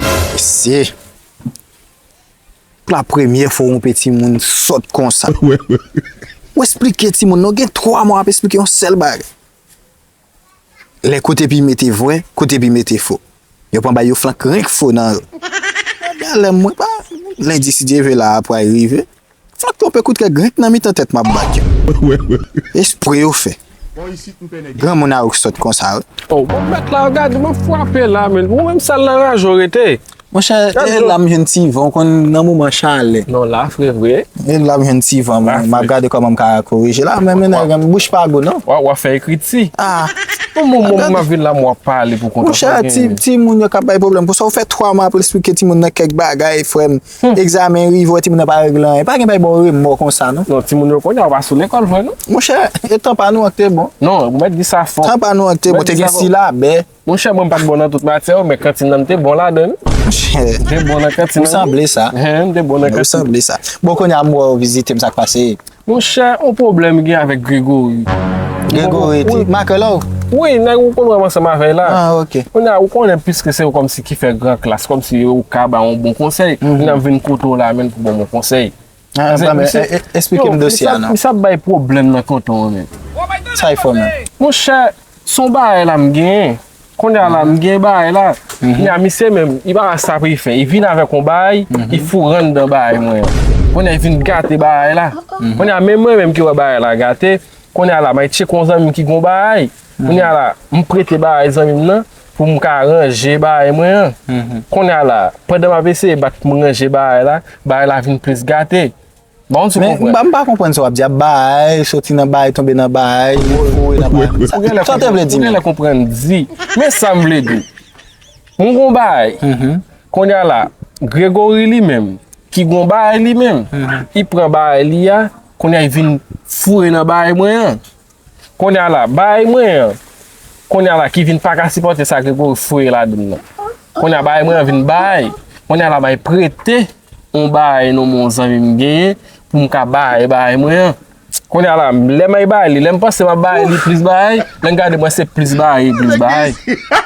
Mesye. Pou la premye fwa yon peti moun sòt konsa. Ou esplike ti moun nan. Ou gen 3 mwa ap esplike yon sèl bagay. Lè kote pi mete vwe, kote pi mete fo. Yo pran bay yo flank renk fo nan. Gen lè mwen pa. Lendi si Dye ve la a pral rive. Sa k twonpe kout kè grik nan mitan tèt m ap bat yo. Espre yo fè. Granmoun a ou k sòt konsa wi. Oh bon mèt la gad m ap fwape la men ou menm sal nan raje w rete. Monchè e la m jwenn ti van ou konn nan moman chalè. Non la fre vre. E la m jwenn ti van mwen m ap gade kòman m ka korije la men mennaj lan bouch pa gou non. Wa wa fè ekriti. Bon bon bon m ap vin la m wap pale pou kontan. Monchè ti moun yo k ap bay pwoblèm pou sa ou fè 3 mwa pou esplike ti moun nan kèk bagay frè m. Hum. Egzamen rive wè timoun nan pa regle anyen. Pa gen bay bon remò konsa non. Non timoun yo konya yo pa sou lekòl vre non. Monchè, e tan pa nou an k te bon. Non, ou mèt di sa fò. Tan pa nou an k te bon, te gen silabè. Monchè mwen m pat bon nan tout matyè yo men kantin nan m te bon ladann. Monchè. M te bon nan kantin nan. Ou sanble sa. Hen, m te bon nan kantin. Ou sanble sa. Bon konya m wè w vizite m sa k pase? Mon chè on pwoblèm gen avèk Gregory. Gregory ti makè la ou? Wi nèg ou konn wè m ansanm avè l la. Ah ok. Kounye a ou konnen piske se ou kòmsi ki fè gran klas kòmsi ou ka ba on bon konsèy m ap vin kote w la menm pou w ban m on konsèy. Anpla men esplike m dosye a non. Misye ap bay pwoblèm nan tonton an menm. Sa e fò menm? Mon chè son bagay la m genyen. Kounye a la m gen bagay la, kounye a misye menm, li pa wè sa pou li fè. Li vin avèk yon bagay, li foure anndan bagay mwen an. Kounye a li vin gate bagay la. Kounye a menm mwen menm ki wè bagay la gate, kounye a la m al tcheke yon zanmi m ki gen yon bagay. Kounye a la, m prete bagay zanmi m nan pou m ka ranje bagay mwen an. Kounye a la, pandan m ap eseye bat pou m ranje bagay la, bagay la vin plis gate. Ba yon ti Men, konpre. m pa, m pa konprann sa w ap di a, bay, soti nan bay, tonbe nan bay, foure nan bay. Ou genlè Sa w te konprann, vle di ou menm? genlè konprann di. Men sa m vle di w, m gon bagay, konnya la, Grégory li menm, ki gon bagay li menm, li pran bagay li a, konnya li vin foure nan bagay mwen an. Konya la baay mwen an Konya la ki vin paka sipòte sa Gregory foure ladann nan Konya baay mwen an vin baay Konya la bay prete on baay non m'en zanmi m genyen pou m ka baay baay mwen an Konya la lè may baay li lè m panse map baay li plis baay lè m gade mwen se plis baay e plis baay.